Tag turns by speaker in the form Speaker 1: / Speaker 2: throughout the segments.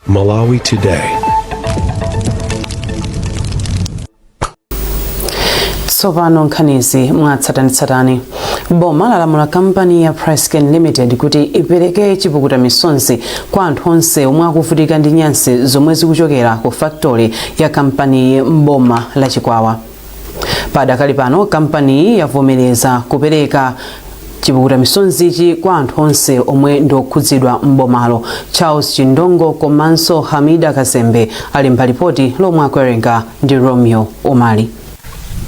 Speaker 1: Malawi
Speaker 2: Today. tsopano nkhanizi mwatsatanitsatani boma lalamula kampani ya PressCane Limited kuti ipereke chipukuta misonzi kwa anthu onse omwe akuvutika ndi nyansi zomwe zikuchokera ku faktori ya kampaniyi m'boma la chikwawa padakali pano kampaniyi yavomereza kupereka chipukuta misonzichi kwa anthu onse omwe ndi okhudzidwa m'bomalo charles chindongo komanso hamida kazembe ali ndi lipoti lomwe akuwerenga ndi romeo umali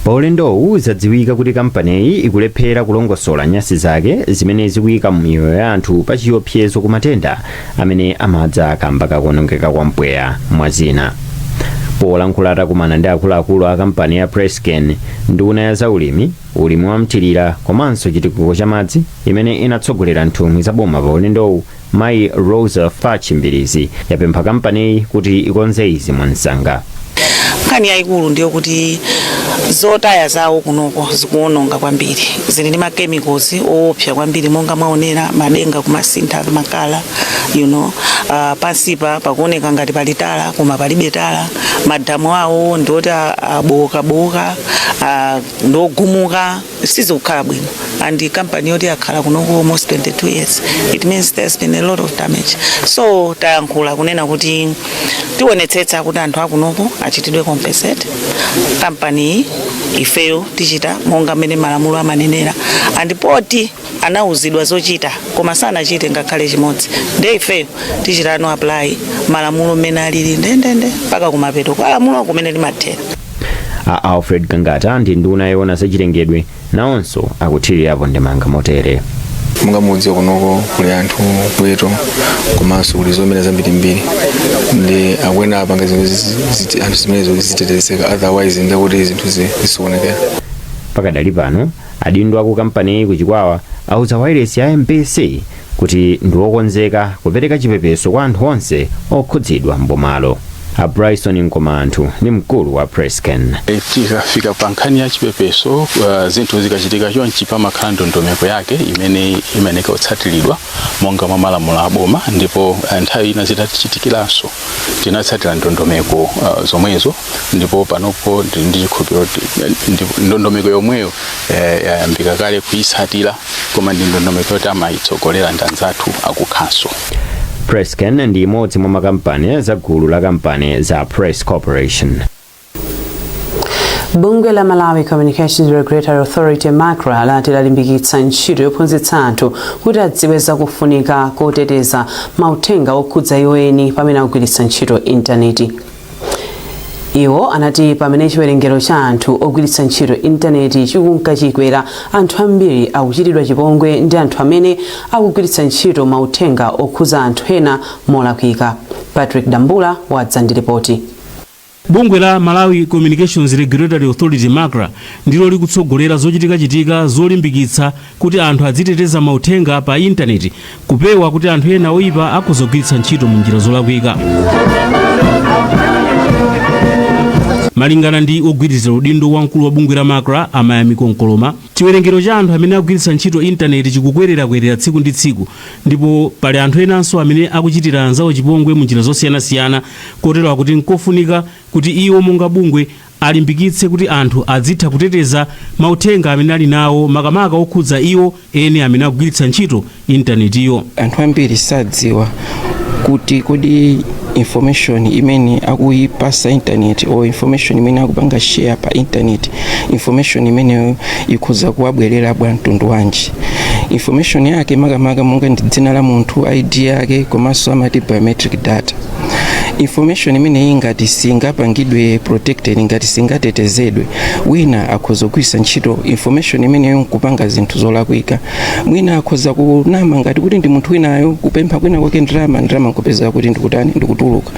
Speaker 2: pa
Speaker 3: ulendowu zadziwika kuti kampaniyi ikulephera kulongosola nyasi zake zimene zikuyika miyoyo ya anthu pa chiopsezo ku matenda amene amadza kamba kakuonongeka kwa mpweya mwa zina polankhula atakumana ndi akuluakulu a kampani ya PressCane nduna ya zaulimi ulimi wa mthirira komanso chitukuko cha madzi imene inatsogolera nthumwi za boma pa ulendowu mayi Roza Fatch Mbilizi yapempha kampaniyi kuti ikonze izi mwansanga nkhani
Speaker 4: yayikulu ndiyo kuti zotaya zawo kunoko zikuwononga kwambiri zili ndi machemicals owopsa kwambiri monga mwaonera madenga kumasintha makala you know uh, pansipa pakuoneka ngati pali tala koma palibe tala madamu awo ndioti abowokabowoka uh, ndiogumuka sizikukhala bwino and company yoti yakhala kunoko almost 22 years it means there's been a lot of damage so talankhula kunena kuti tionetsetsa kuti anthu akunoko achitidwe compensate kampani ifeyo tichita monga mmene malamulo amanenera and poti anauzidwa zochita koma sanachite ngakhale chimodzi nde ifeyo tichita apply malamulo mmene alili ndendende mpaka kumapeto kwa lamulo kumene limathera a
Speaker 3: alfred gangata ndi nduna yoona zachilengedwe nawonso akuthirirapo ndemanga motere monga mudziwa
Speaker 5: kunoko kuli anthu ziweto komanso kuli zomera zambirimbiri nde akuyenera apange zinthu zi- ziti- anthu zimenezo kuti zitetezeke otherwise ndekuti zinthu zi- zisokonekera pakadali
Speaker 3: pano adindo aku kampaniyi ku chikwawa auza wailesi ya mbc kuti ndi wokonzeka kupereka chipepeso kwa anthu onse okhudzidwa m'bomalo a bryson Mkomaanthu ndi mkulu wa PressCane E, tikafika pa
Speaker 6: nkhani ya chipepeso uh, zinthu zikachitika chonchi pamakhala ndondomeko yake imene imayeneka kutsatiridwa monga mwa malamulo a boma ndipo uh, nthawi ina zidatichitikiranso tinatsatira ndondomeko uh, zomwezo ndipo panopo ndili ndi chikhulupiriro kuti, eh, ndi- ndondomeko yomweyo eh, yayambika kale kuyitsatira koma ndi ndondomeko yoti amayitsogolera ndi anzathu akukhanso Prescan
Speaker 3: ndi imodzi mwa makampani za gulu la kampani za Press Corporation.
Speaker 2: bungwe la malawi communications regulatory authority macra lati lalimbikitsa ntchito yophunzitsa anthu kuti adziwe zakufunika koteteza mauthenga okhudza iwo eni pamene akugwiritsa ntchito intaneti iwo anati pamene chiwerengero cha anthu ogwiritsa ntchito intaneti chikunka chikwera anthu ambiri akuchitidwa chipongwe ndi anthu amene akugwiritsa ntchito mauthenga okhuza anthu ena molakwika patrick dambula wadza ndi ripoti Bungwe la
Speaker 7: Malawi Communications Regulatory Authority MACRA ndilo likutsogolera zochitikachitika zolimbikitsa kuti anthu adziteteza mauthenga pa intaneti, kupewa kuti anthu ena oipa akudzagwiritsa ntchito m'njira zolakwika. Malingana ndi wogwirizira udindo wa mkulu wa bungwe la macra a Mayamiko Nkoloma, chiwerengero cha anthu amene akugwiritsa ntchito intaneti chikukwererakwerera tsiku ndi tsiku ndipo pali anthu enanso amene akuchitira anzawo chipongwe m'njira zosiyanasiyana kotero kuti n'kofunika kuti iwo monga bungwe alimbikitse kuti anthu adzitha kuteteza mauthenga amene ali nawo makamaka okhudza iwo eni amene akugwiritsa ntchito intanetiyo. anthu ambiri
Speaker 8: sadziwa kuti kodi information imene akuyipasa intaneti or information imene akupanga share pa intaneti information imeneyo ikhoza kuwabwerera bwa mtundu wanji information yake makamaka monga ndi dzina la munthu id yake komanso amati biometric data information imeneyi ngati singapangidwe protected ngati singatetezedwe wina akhoza kugwiritsa ntchito information imeneyi nkupanga zinthu zolakwika mwina akhoza kunama ngati kuti ndi munthu winayo kupempha kwina kwake ndalama ndalama nkupezeka kuti ndikutani ndikutuluka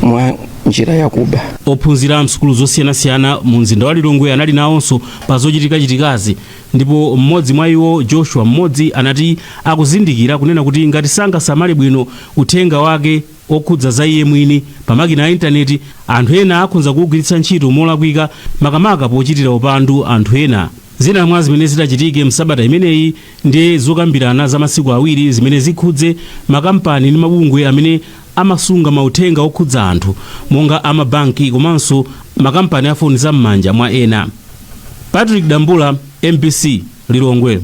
Speaker 8: mwa njira yakuba ophunzira msukulu
Speaker 7: zosiyanasiyana mu mzinda wa lilongwe anali nawonso pa zochitikachitikazi Ndipo mmodzi mwa iwo, Joshua, mmodzi, anati, akuzindikira, kunena kuti ngati sangasamale bwino uthenga wake wokhudza za iye mwini, pa makina a Intaneti, anthu ena akhonza kuwugwiritsa ntchito molakwika, makamaka pochitira upandu anthu ena. Zina mwa zimene zitachitike msabata imeneyi ndi zokambirana za masiku awiri zimene zikhudze makampani ndi mabungwe amene amasunga mauthenga okhudza anthu monga a mabanki komanso makampani a foni za m'manja mwa ena. Patrick Dambula, mbc, Lilongwe.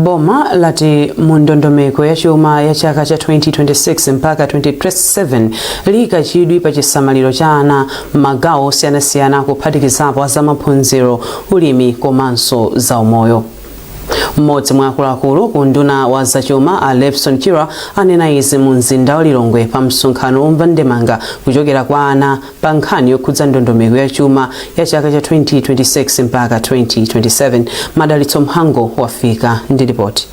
Speaker 2: Boma lati mu ndondomeko ya chuma ya chaka cha 2026 mpaka 2027 liyika chidwi pa chisamaliro cha ana m'magawo osiyanasiyana kuphatikizapo a zamaphunziro, ulimi komanso zaumoyo. mmodzi mwa akuluakulu ku unduna wa zachuma a Levson Chirwa anena izi mu mzinda wa Lilongwe pa msonkhano womva ndemanga kuchokera kwa ana pa nkhani yokhudza ndondomeko ya chuma ya chaka cha 2026 mpaka 2027 Madalitso Mhango wafika ndi ripoti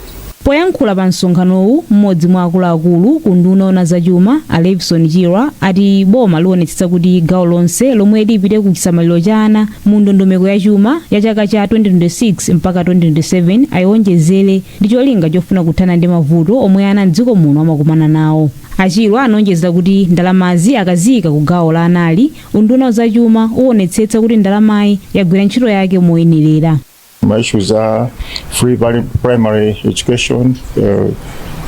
Speaker 2: poyankhula
Speaker 1: pa msonkhanowu mmodzi mwa akuluakulu ku unduna woona zachuma a Levson Chirwa ati boma lionetsetsa kuti gawo lonse lomwe lipite ku chisamaliro cha ana mu ndondomeko ya chuma ya chaka cha 2026 mpaka 2027 ayiwonjezere ndi cholinga chofuna kuthana ndi mavuto omwe ana mdziko muno amakumana nawo a Chirwa anawonjeza kuti ndalamazi akaziyika ku gawo la anali unduna wa zachuma uwonetsetsa kuti ndalamayi yagwira ntchito yake moyenerera Ma issues
Speaker 9: a free prim- primary education,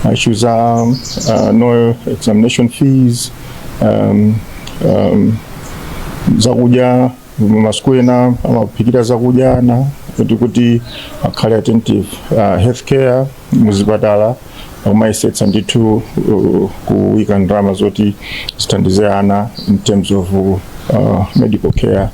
Speaker 9: ma issues a uh, no examination fees, um, um, zakudya masukulu ena amaphikira zakudya ana kuti kuti akhale attentive uh, healthcare muzipatala akumayesetsa ndithu uh, kuwika ndalama zoti zithandize ana in terms of uh, medical care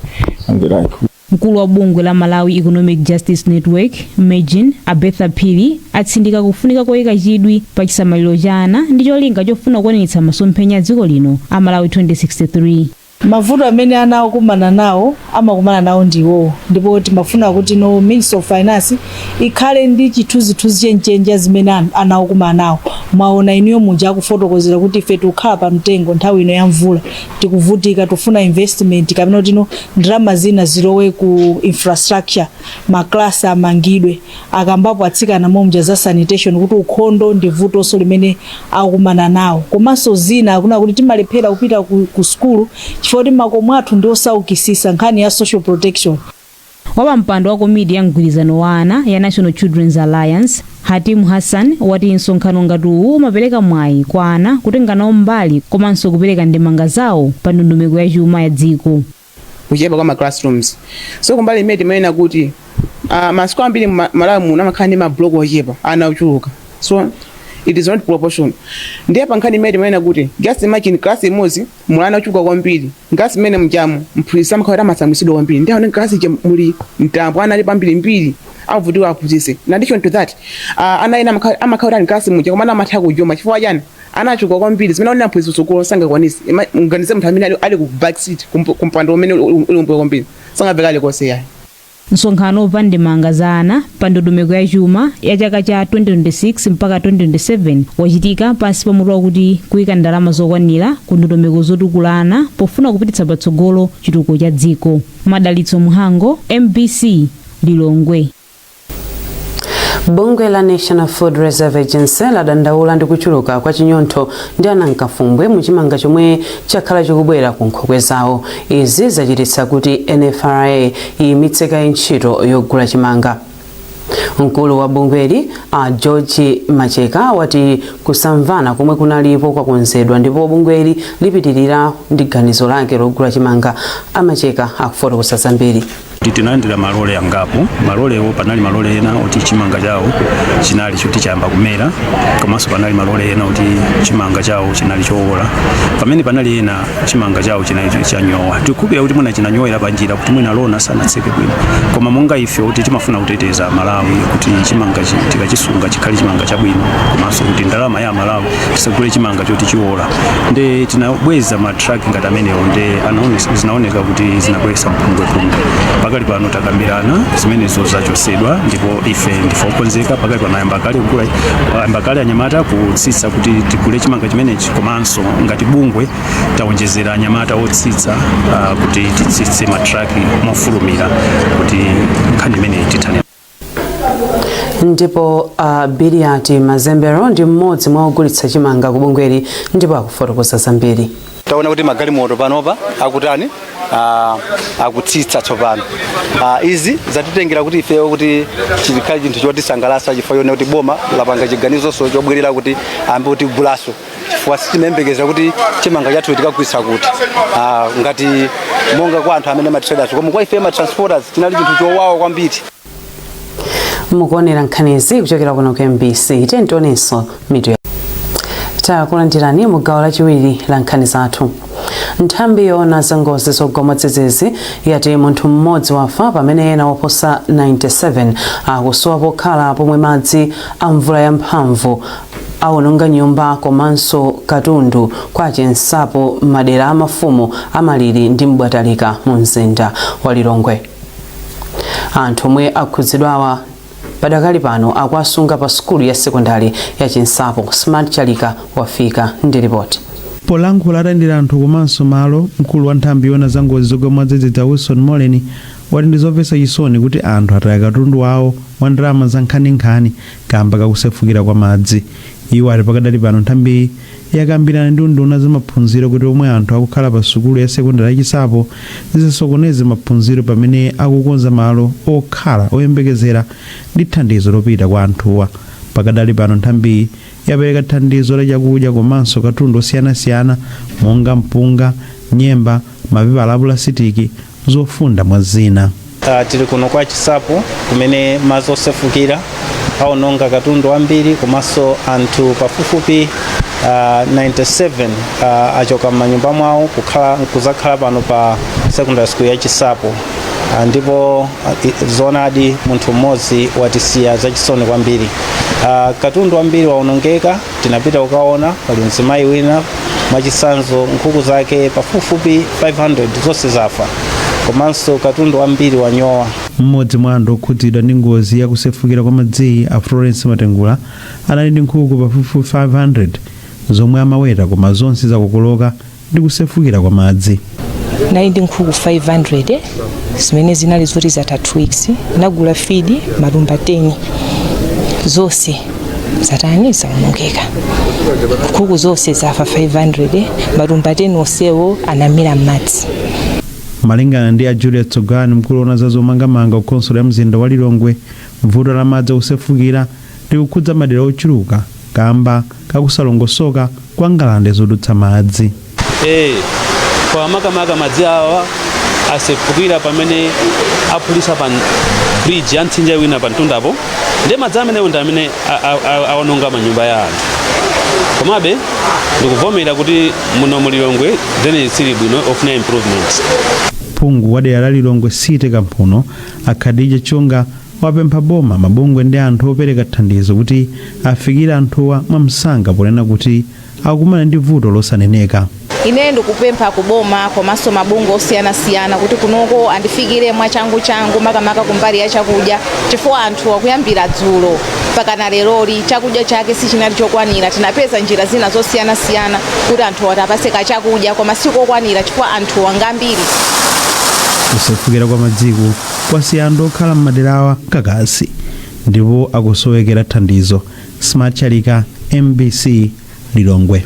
Speaker 9: and the like Mkulu wa
Speaker 1: bungwe la Malawi Economic Justice Network, MEJN, a Bertha Phiri atsindika kufunika koyika chidwi pa chisamaliro cha ana ndi cholinga chofuna kukwaniritsa masomphenya a dziko lino a Malawi 2063. Mavuto amene
Speaker 10: ana akukumana nawo amakumana nawo ndi iwowo ndipo timafuna kuti no Ministry of Finance ikhale ndi chithunzithunzi chenicheni cha zimene an- ana akukumana nawo. Mwaona inuyo muja akufotokozera kuti ife tikukhala pa mtengo nthawi ino ya mvula tikuvutika tikufuna investment kapena kuti no ndalama zina zilowe ku infrastructure maklasi amangidwe akambapo atsikana mommuja za sanitation kuti ukhondo ndi vutonso limene akukumana nawo komanso zina akunena kuti timalephera kupita ku, ku sukulu chifukwa kuti makomo athu ndi osaukisisa nkhani ya social protection Wapampando wa komiti ya mgwirizano wa ana ya National Children's Alliance, Hatim Hassan, wati msonkhano ngati uwu umapereka mwayi kwa ana kutenga nawo mbali komanso kupereka ndemanga zawo pa ndondomeko ya chuma ya dziko. kuchepa kwa
Speaker 11: ma classrooms so kumbali imene timanena kuti uh, masukulu ambiri mu Ma- malawi muno amakhala ndi mablock ochepa ana ochuluka so it is not proportion ndiye pa nkhani imene timanena kuti just imagine class imodzi muli ana ochuluka kwambiri m'class mmene mujamu mphunzitsi amakhala kuti amasamwisidwa kwambiri ndi aone m'class muja muli mtambo ana alipo ambirimbiri avutika awaphunzitse in addition to that uh, ana ena amakhala amakhala kuti ali m'class muja koma ana amatha kujomba chifukwa chiyani ana achuluka kwambiri zimene akunena mphunzitsi kusukulu sangakwanitse Ima- muganize munthu amene ali- ali ku backseat kump- kumpando umene uli kumbuyo kwambiri sangamve kalikonse ayi Msonkhano
Speaker 1: womva ndemanga za ana pa ndondomeko ya chuma ya chaka cha 2026 mpaka 2027 wachitika pansi pa mutu wakuti Kuika ndalama zokwanira ku ndondomeko zotukula ana pofuna kupititsa patsogolo chitukuko cha dziko. Madalitso Mhango, MBC,
Speaker 2: Lilongwe. Bungwe la National Food Reserve Agency ladandaula ndi kuchuluka kwa chinyontho ndi anankafumbwe mu chimanga chomwe chakhala chikubwera ku nkhokwe zawo. Izi zachititsa kuti NFRA iyimitse kaye ntchito yogula chimanga. Mkulu wa bungweli, a George Macheka, wati kusamvana komwe kunalipo kwakonzedwa ndipo bungweli lipitilira ndi ganizo lake logula chimanga. A Macheka akufotokoza zambiri. tinalandira
Speaker 12: malole angapo malolewo panali malole ena oti chimanga chawo chinali choti chayamba kumera komanso panali malole ena oti chimanga chawo chinali chowola pamene panali ena chimanga chawo chinali cho- chanyowa tikukhulupirira kuti mwina chinanyowera panjira kuti mwina tlona sanatseke bwino koma monga ife kuti timafuna kuteteza malawi kuti chimanga chi- tikachisunga chikhale chimanga chabwino komanso kuti ndalama ya- aMalawi tisagule chimanga choti chiwola nde tinabweza matraki ngati amenewo nde anaone- zinaoneka kuti zinabweresa mpungwepungwe pakali pano takambirana zimenezo zachosedwa ndipo ife ndife okonzeka pakali pano ayamba kale kugula ayamba kale anyamata kutsitsa kuti tigule chimanga chimenechi komanso ngati bungwe taonjezera anyamata otsitsa ah, kuti titsitse matraki mofulumira kuti nkhani imeneyi tithane
Speaker 2: ndipo a uh, Biliati Mazembero ndi mmodzi mwa ogulitsa chimanga ku bungweli ndipo akufotokoza
Speaker 13: zambiri taona kuti
Speaker 2: magalimoto
Speaker 13: panopa akutani uh, akutsitsa tsopano uh, izi zatitengera kuti ifeyo kuti chikhale chinthu chotisangalasa chifukwa choona kuti boma lapanga chiganizoso chobwerera kuti ayambe kutigulaso chifukwa sitimayembekeza kuti chimanga chathu tikagulitsa kuti ah, ngati monga kwa anthu amene matraders koma kwa ife matransporters chinali chinthu chowawa kwambiri mukuonera
Speaker 2: nkhanizi kuchokera kuno ku MBC tiyeni tionenso mitu ya takulandirani mu gawo lachiwiri la nkhani zathu nthambi yoona za ngozi zogwa mwadzidzidzi yati munthu mmodzi wafa pamene ena oposa 97 akusowa pokhala pomwe madzi a mvula yamphamvu awononga nyumba komanso katundu kwa Chinsapo m'madera a mafumu a Maliri ndi M'bwatalika mu mzinda wa Lilongwe. Anthu omwe akhudzidwawa padakali pano akuwasunga pa sukulu ya sekondari ya Chinsapo. Smart Chalika wafika ndi ripoti. Polankhula atayendera
Speaker 14: anthu komanso malo, mkulu wa nthambi yoona za ngozi zogwa mwadzidzidzi a Wilson Moleni wati ndi zomvetsa chisoni kuti anthu ataya katundu wawo wa ndalama zankhaninkhani kamba kakusefukira kwa madzi. Iwo ati pakadali pano nthambiyi yakambirana ndi unduna wa zamaphunziro kuti omwe anthu akukhala pa sukulu ya sekondari ya Chinsapo zisasokoneze maphunziro pamene akukonza malo okhala oyembekezera ndi thandizo lopita kwa anthuwa. Pakadali pano nthambiyi yapereka thandizo la chakudya komanso katundu osiyanasiyana monga mpunga, nyemba, mapepala a pulasitiki, zofunda mwa zina. Uh, tili kuno
Speaker 15: kwa Chinsapo kumene madzi osefukira aononga katundu wambiri komanso anthu pafupifupi uh, 97 uh, achoka m'manyumba mwawo kukhala kuzakhala pano pa secondary school ya Chinsapo uh, ndipo uh, zoonadi munthu mmodzi watisiya zachisoni kwambiri uh, katundu wambiri waonongeka Tinapita kukaona pali mzimayi wina mwachitsanzo nkhuku zake pafupifupi 500 zonse zafa komanso katundu wambiri wanyowa. M'modzi mwa
Speaker 14: anthu okhudzidwa ndi ngozi ya kusefukira kwa madziyi a Florence Matengula anali ndi nkhuku pafupifupi 500 zomwe amaweta koma zonse zakokoloka ndi kusefukira kwa madzi ndinali ndi
Speaker 16: nkhuku 500 zimene zinali zoti zatha 2 weeks ndinagula feed matumba 10 zonse zatani zaonongeka nkhuku zonse zafa 500 matumba 10 onsewo anamira m'madzi
Speaker 14: malingana ndi a julius tsogani mkulu woona za zomangamanga ku khonsolo ya mzinda wa lilongwe vuto la madzi osefukira likukhudza madera ochuluka kaamba kakusalongosoka kwa ngalande zodutsa madzi.
Speaker 7: e Kwa makamaka madzi awa asefukira pamene aphulitsa pa bridge ya mtsinje wina pamtundapo nde madzi amenewo ndi amene awononga manyumba ya anthu. Komabe ndikuvomera kuti muno mu Lilongwe drainage siili bwino ofuna improvements. Phungu wa
Speaker 14: dera la Lilongwe City Kamphuno, a Khadija Chunga, wapempha boma, mabungwe ndi anthu opereka thandizo kuti afikire anthuwa mwamsanga ponena kuti akumana ndi vuto losaneneka. Ine ndikupempha
Speaker 17: ku boma komanso mabungwe osiyanasiyana kuti kunoko andifikire mwachanguchangu makamaka kumbali ya chakudya chifukwa anthuwa kuyambira dzulo mpakana leroli chakudya chake sichinali chokwanira. Tinapeza njira zina zosiyanasiyana kuti anthuwa tiwapatse kachakudya koma sikokwanira chifukwa anthuwa ngambiri.
Speaker 14: Kusefukira kwa madziku kwasiya anthu okhala m'maderawa kakasi ndipo akusowekera thandizo. Smart Chalika, MBC, Lilongwe.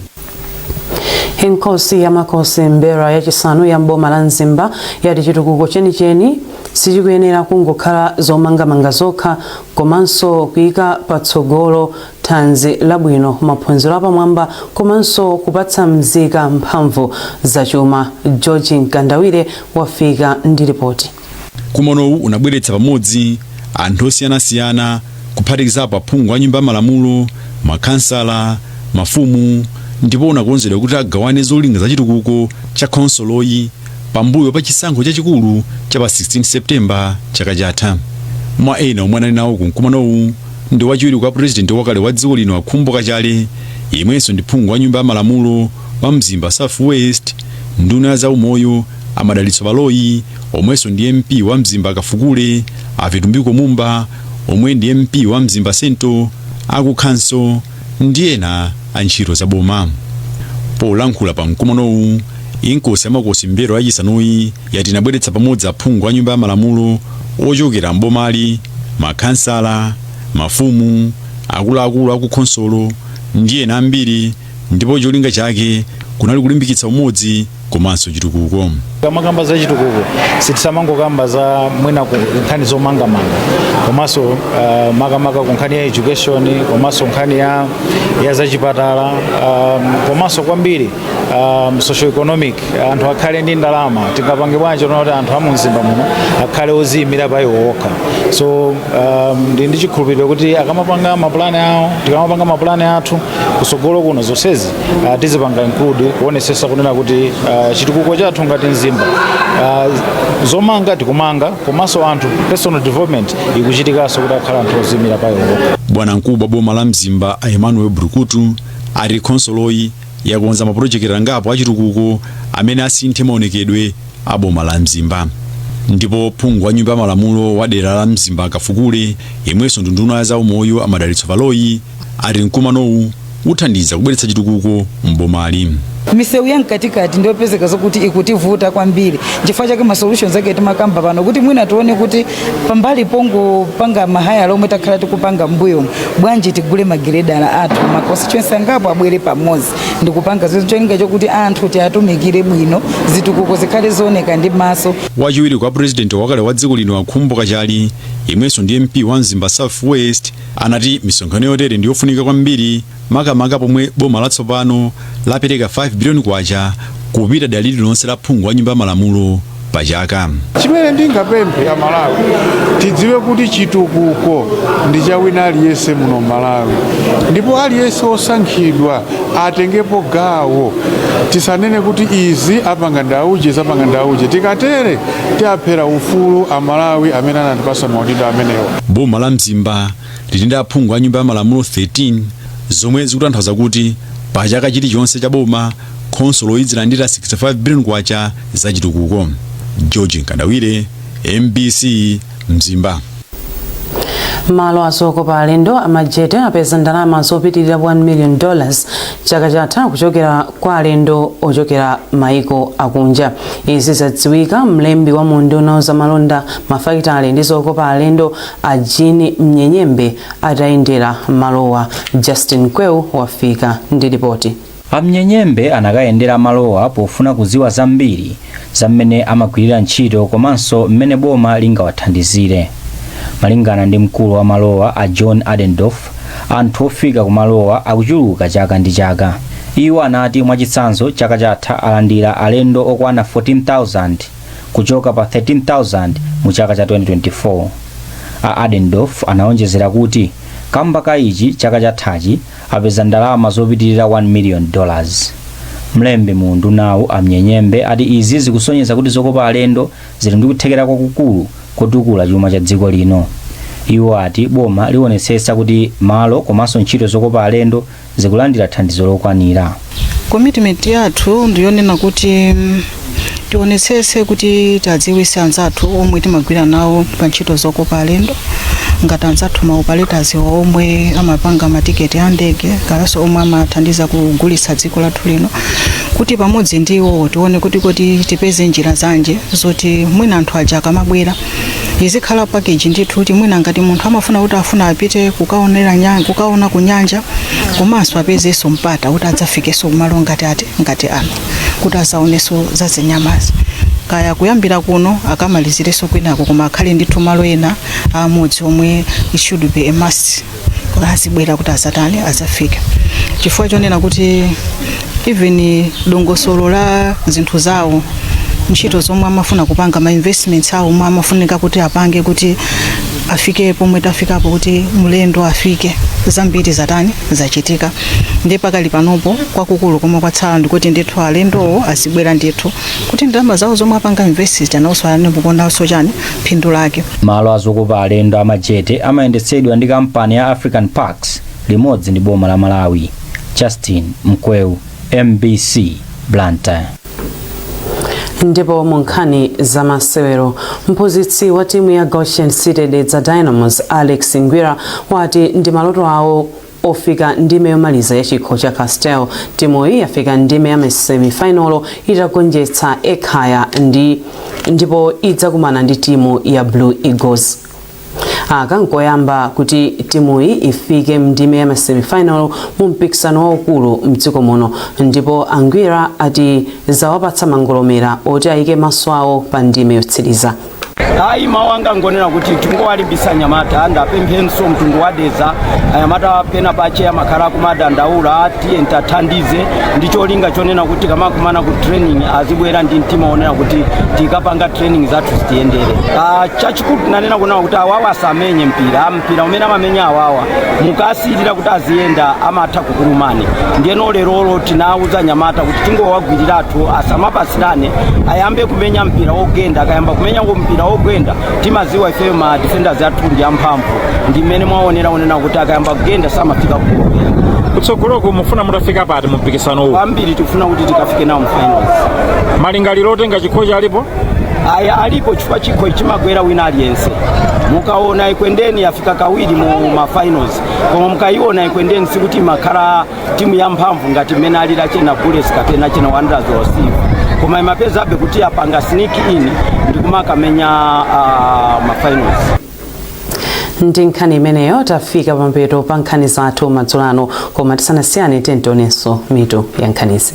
Speaker 2: Inkosi ya Makosi M'mbelwa yachisanu ya m'boma la Mzimba yati chitukuko chenicheni sichikuyenera kungokhala zomangamanga zokha komanso kuyika patsogolo thanzi labwino, maphunziro apamwamba komanso kupatsa mzika mphamvu zachuma. George Mkandawire wafika ndi lipoti. Mkumanowu
Speaker 18: unabweretsa pamodzi anthu osiyanasiyana kuphatikizapo aphungu a nyumba ya malamulo, makhansala, mafumu ndipo unakonzedwa kuti agawane zolinga za chitukuko cha khonsoloyi pambuyo pa chisankho chachikulu cha pa 16 September chaka chatha. Mwa ena omwe anali nawo ku mkumanowu ndi wachiwiri kwa pulezidenti wakale wa dziko lino a Khumbo Kachali, yemwenso ndi phungu wa nyumba ya malamulo wa Mzimba South West, nduna ya zaumoyo a Madalitso Baloyi omwenso ndi MP wa Mzimba Kafukule, a Vitumbiko Mumba omwe ndi MP wa Mzimba Central, a kukhonsolo ndi ena a ntchito za boma. Polankhula pa mkumanowu, Inkosi ya Makosi Mmbelwa yachisanuyi yati inabweretsa pamodzi aphungu a nyumba ya malamulo ochokera m'bomali makhansala mafumu akuluakulu akukhonsolo ndi ena ambiri ndipo cholinga chake kunali kulimbikitsa umodzi komanso chitukuko tikamakamba
Speaker 19: za chitukuko sitisamangokamba za mwina ku nkhani zomangamanga komanso uh, makamaka ku nkhani ya education komanso nkhani ya, ya zachipatala um, komanso kwambiri um, socioeconomic anthu akhale ndi ndalama tingapange bwanji kuona kuti anthu amumzimba muno akhale oziyimira pa iwo okha so um, ndili ndi chikhulupiriro kuti akamapanga mapulani awo tikamapanga mapulani athu kusogolo kuno zonsezi uh, tizipanga include kuonesesa kunena kuti uh, chitukuko chathu ngati mzimba uh, zomanga tikumanga komanso anthu personal development ikuchitikanso kuti akhale anthu oziyimira pa iwo okha bwanamkubwa wa boma la
Speaker 18: mzimba a emmanuel bulukutu ati khonsoloyi yakonza mapulojekiti angapo achitukuko amene asinthe maonekedwe a boma la mzimba ndipo phungu wa nyumba ya malamulo wa dera la mzimba kafukule yemwenso ndi nduna ya za umoyo amadalitso baloyi ati mkumanowu uthandiza kubweretsa chitukuko m'bomali misewu
Speaker 20: ya mkatikati ndiyopezeka zokuti ikutivuta kwambiri chifukwa chake ma solutions ake timakamba pano kuti mwina tione kuti pambali pongopanga mahayala omwe takhala tikupanga mbuyo bwanji tigule magiredala athu ma constituency angapo abwere pamodzi ndikupanga zinthu cholinga chokuti anthu tiwatumikire bwino zitukuko zikhale zooneka ndi maso wachiwiri kwa
Speaker 18: president wakale wa dziko lino akhumbo kachali yemwenso ndi mp wa mzimba south west anati misonkhano yotere ndi yofunika kwambiri makamaka pomwe boma latsopano lapereka K5 biliyoni kupita dera lililonse la phungu wa Nyumba ya Malamulo pa chaka. Chimene
Speaker 21: ndingapemphe Amalawi tidziwe kuti chitukuko ndi cha wina aliyense muno Malawi, ndipo aliyense wosankhidwa atengepo gawo. Tisanene kuti izi apanga ndi auje, izi apanga ndi auje. Tikatere tiwaphera ufulu Amalawi amene anatipasa maudindo amenewa. Boma la Mzimba
Speaker 18: lili ndi aphungu a Nyumba ya Malamulo 13, zomwe zikutanthauza kuti pa chaka chilichonse cha boma, khonsoloyi idzilandira 65 biliyoni kwacha za chitukuko. George Nkandawire, mbc mzimba.
Speaker 2: malo azokopa alendo a Majete apeza ndalama zopitilira 1 million dollars chaka chatha kuchokera kwa alendo ochokera maiko akunja izi zadziwika mlembi wa mu unduna wa za malonda mafakitale ndi zokopa alendo A Jean Mnyenyembe atayendera malowa, Justin Mkweu wafika ndi lipoti. A Mnyenyembe
Speaker 22: anakayendera malowa pofuna kudziwa zambiri za mmene amagwirira ntchito komanso mmene boma lingawathandizire. Malingana ndi mkulu wa malowa a John Adendorf, anthu ofika kumalowa akuchuluka chaka ndi chaka. Iwo anati mwachitsanzo chaka chatha alandira alendo okwana 14,000. kuchoka pa 13,000 mu chaka cha 2024 a adendorf anawonjezera kuti kamba ka ichi chaka chathachi apeza ndalama zopitirira 1 million dollars mlembi mu undunawu a Mnyenyembe ati izi zikusonyeza kuti zokopa alendo zili ndi kuthekera kwakukulu kotukula chuma cha dziko lino iwo ati boma liwonetsetsa kuti malo komanso ntchito zokopa alendo zikulandira thandizo lokwanira commitment
Speaker 23: yathu ndiyonena kuti mm, tionetsetse kuti tadziwitsa anzathu omwe timagwira nawo pa ntchito zokopa alendo ngati anzathu ma operators omwe amapanga matiketi a ndege kayanso omwe amathandiza kugulitsa dziko lathu lino kuti pamodzi ndi iwowo tione kuti kodi tipeze njira zanji zoti mwina anthu aja akamabwera izikhala package ndithu kuti mwina ngati munthu amafuna kuti afuna apite kukaonera nyanja kukaona ku nyanja komanso apezenso mpata kuti adzafikenso kumalo ngati ati ngati ano kuti azaonenso za zinyamazi kaya kuyambira kuno akamalizirenso kwinako koma akhale ndithu malo ena amodzi omwe it should be a must kuti azibwera kuti azatani azafike chifukwa chonena kuti even dongosolo la zinthu zawo ntchito zomwe amafuna kupanga ma investments awo omwe amafunika kuti apange kuti afike pomwe tafikapo kuti mlendo afike zambiri zatani zachitika ndi pakali panopo kwakukulu komwe kwatsala ndikuti ndithu alendowo azibwera ndithu kuti ndalama zawo zomwe apanga invest nawonso aonepo kodanso chani phindu lake. Malo a zokopa
Speaker 22: alendo a Majete amayendetsedwa ndi kampani ya African Parks limodzi ndi boma la Malawi. Justin Mkweu, MBC, Blantyre.
Speaker 2: ndipo mu nkhani za masewero mphunzitsi wa timu ya goshen city dedza dynamos alex ngwira wati ndi maloto awo ofika ndime yomaliza ya chikho cha castel timuyi yafika ndime ya masemifinalo itagonjetsa ekhaya ndipo idzakumana ndi timu ya blue eagles aka nkoyamba kuti timuyi ifike mndime ya masemifinal mu mpikisano waukulu mdziko muno ndipo angwira ati zawapatsa mangolomera oti ayike maso awo pa ndime yotsiriza ayi
Speaker 4: mawu anga ngonena kuti tingowalimbisa anyamata ndapemphenso mtundu wa dedza anyamata pena pache amakhala akumadandaula tiye tathandize ndi cholinga chonena kuti akamakumana ku training azibwera ndi mtima wonena kuti tikapanga training zathu zitiyendere Ah, chachikulu tinanena kunena kuti awawa asamenye mpira mpira umene amamenya awawa mukasiyirira kuti aziyenda amatha kukulumani ndiyeno lerolo tinawuza anyamata kuti tingowagwiriratu asamapasirane ayambe kumenya mpira wogenda akayamba kumenya mpira wogenda timaziwa ifeyo ma defenders athu ndi amphamvu ndi mmene mwaonera onena kuti akayamba kugenda samafika kugolo
Speaker 5: kutsogoloku mufuna mutafika pati mu mpikisano uwu kwambiri tikufuna
Speaker 4: kuti tikafike nawo mfinals
Speaker 5: malingaliro otenga chikhochi alipo aya alipo
Speaker 4: chifukwa chikho chimagwera wina aliyense mukaona ekwendeni afika kawiri mu mafinals koma mukayiona ekwendeni sikuti imakhala timu ya mphamvu ngati mmene alili achina bullets kapena achina wanderers or silver koma imapezabe kuti yapanga sneak in ndi kumakamenya
Speaker 2: mafinals ndi nkhani imeneyo tafika pamapeto pa nkhani zathu madzulo ano koma tisanasiyane tiyeni tionenso mitu ya nkhanizi